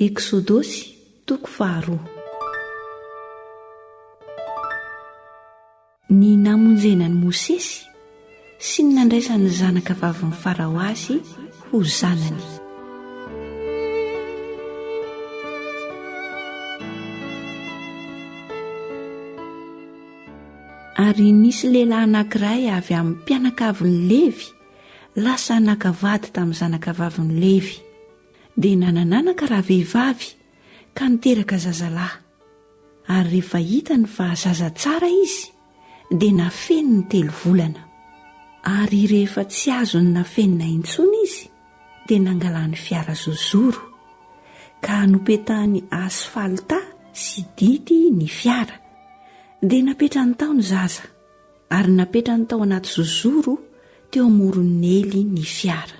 Eksodosy toko faharoa. Ny namonjena an'i Mosesy sy ny nandraisan'ny zanaka vavin'i Farao azy ho zanany. Ary nisy lehilahy anankiray avy amin'ny mpianakavin'i Levy lasa naka vady tamin'ny zanaka vavin'i Levy. dia nanananaka raha vehivavy ka niteraka zazalahy, ary rehefa hitany fa zaza tsara izy dia nafeniny telo volana, ary rehefa tsy azony nafenina intsony izy dia nangalany fiara zozoro, ka nopetahany asfalta sy dity ny fiara, dia napetrany tao ny zaza, ary napetrany tao anaty zozoro teo amoron'ny ely ny fiara.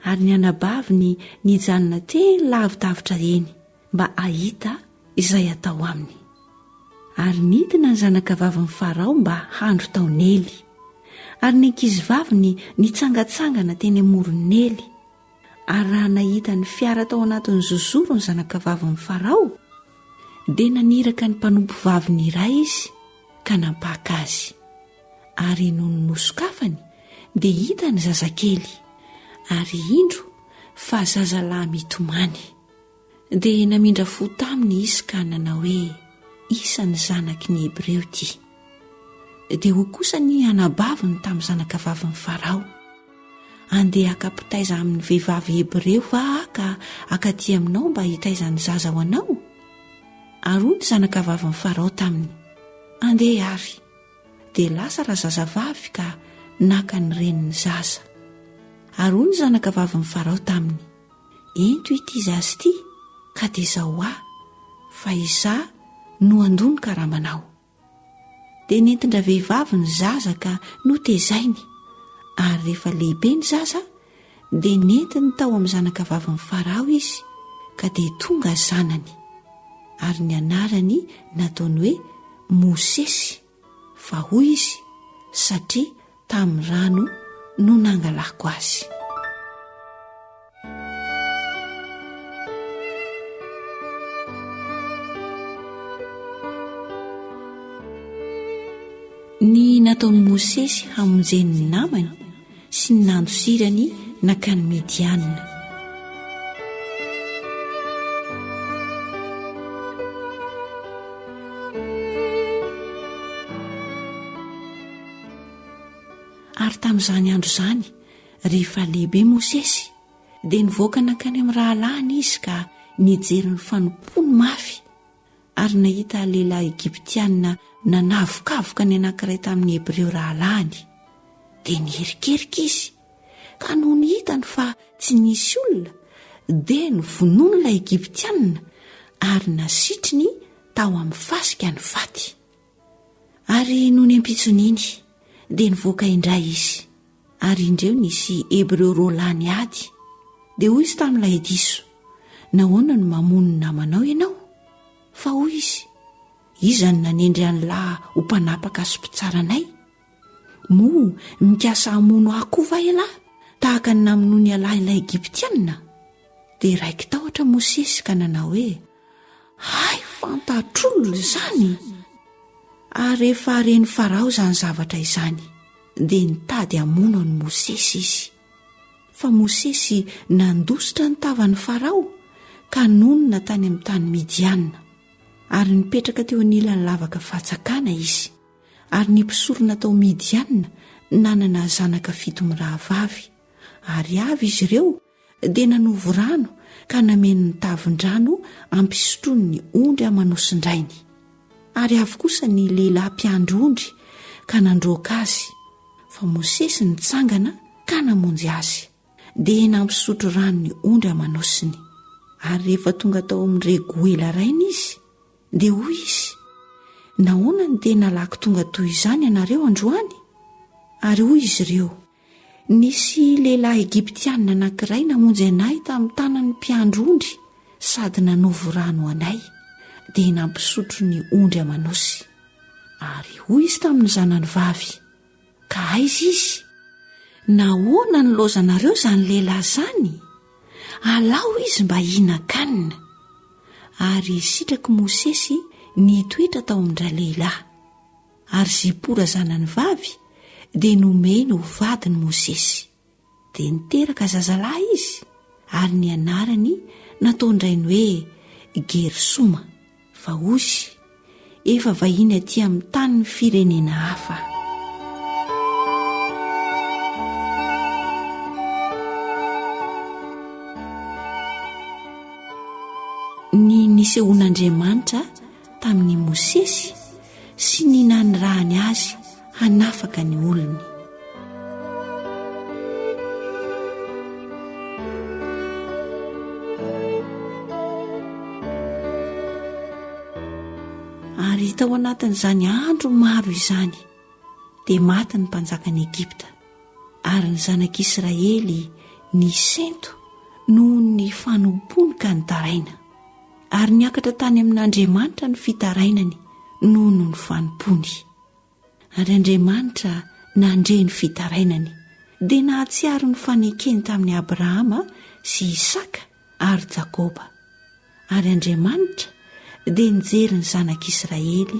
ary ny anabaviny nijanona teny lavidavitra eny mba hahita izay hatao aminy. Ary nidina ny zanakavavin'i Farao mba handro tao Nely, ary ny ankizivaviny nitsangatsangana teny amoron'i Nely, ary raha nahita ny fiara tao anatin'ny zozoro ny zanakavavin'i Farao, dia naniraka ny mpanompovaviny iray izy ka nampaka azy. ary nony nosokafany dia hita ny zazakely ary indro fa zazalahy mitomany dia namindra fo taminy izy ka nanao hoe isan'ny zanaky ny hebreo ty dia ho kosa ny anabaviny tamin'ny zanaka vavin'ny farao andeha akapitaiza amin'ny vehivavy hebreo va aka akaty aminao mba hitaizan'ny zaza ho anao ary ho ny zanaka vavin'ny farao taminy andeha ary dia lasa razazavavy ka naka ny renin'ny zaza. Ary hoy ny zanakavavin'i Farao taminy, Ento ity zaza ity, ka dia zao ahy, fa izaho no handoa ny karamanao. Dia nentin-dravehivavy ny zaza ka notezainy, ary rehefa lehibe ny zaza, dia nentiny tao amin'ny zanakavavin'i Farao izy ka dia tonga zanany, ary ny anarany nataony hoe Mosesy, fa hoy izy, satria tamin'ny rano no nangalako azy. Ny nataon'i Mosesy hamonjeny ny namany sy ny nandosirany nankany Midiana. Ary tamin'izany andro izany, rehefa lehibe Mosesy, dia nivoaka nankany amin'ny rahalahiny izy ka nijery ny fanompoany mafy. ary nahita lehilahy Egyptiana nanavokavoka ny anankiray tamin'ny Hebreo rahalahiny, dia niherikerika izy, ka nony hitany fa tsy nisy olona, dia novonoiny ilay Egyptiana ary nasitriny tao amin'ny fasika ny faty. Ary nony ampitson'iny, dia nivoaka indray izy, ary indreo nisy Hebreo roa lahy niady. Dia hoy izy tamin'ilay diso, Nahoana no mamono ny namanao ianao? Fa hoy izy, Iza no nanendry an'lah ho mpanapaka sy mpitsara anay? Moa mikasa hamono ahy koa va ialahy, tahaka ny namonoan'ialahy ilay Egyptiana? Dia raiki-tahotra Mosesy ka nanao hoe, Hay fantatr'olona izany! Ary rehefa ren'i Farao izany zavatra izany, dia nitady hamono an'i Mosesy izy. Fa Mosesy nandositra ny tavan'i Farao ka nonina tany amin'ny tany Midiana, ary nipetraka teo anilan'ny lavaka fatsakana izy. Ary ny mpisorona tao Midiana nanana zanaka fito mirahavavy, ary avy izy ireo dia nanovo rano ka nameno ny tavin-drano hampisotroany ny ondry amanosin-drainy. Ary avy kosa ny lehilahy mpiandry ondry ka nandroaka azy, fa Mosesy nitsangana ka namonjy azy, dia nampisotro rano ny ondry amanosiny. Ary rehefa tonga tao amin'ny Regoela rainy izy, Dia hoy izy, Nahoana no dia nalako tonga toy izany ianareo androany? Ary hoy izy ireo, Nisy lehilahy Egyptiana anankiray namonjy anay tamin'ny tanan'ny mpiandry ondry sady nanovo rano ho anay, dia nampisotro ny ondry aman'osy. Ary hoy izy tamin'ny zanany vavy, Ka aiza izy? Nahoana nilaozanareo izany lehilahy izany? Alao izy mba hihinan-kanina. Ary sitrak'i Mosesy ny hitoetra tao amin-dralehilahy. Ary Zipora zanany vavy dia nomeny ho vadin'i Mosesy. Dia niteraka zazalahy izy, ary ny anarany nataon-drainy hoe Gersoma, fa Osy, efa vahiny aty amin'ny tanin'ny firenena hafa. Ny nisehoan'Andriamanitra tamin' i Mosesy sy ny nanirahany azy hanafaka ny olony. Ary tao anatin' izany andro maro izany dia maty ny mpanjakan' Egypta ary ny zanak' Israely nisento noho ny fanompony ka nitaraina. ary niakatra tany amin'Andriamanitra ny fitarainany noho ny fanompoany. Ary Andriamanitra nandre ny fitarainany, dia nahatsiaro ny fanekeny tamin'i Abrahama sy Isaka ary Jakoba. Ary Andriamanitra dia nijery ny zanak'Israely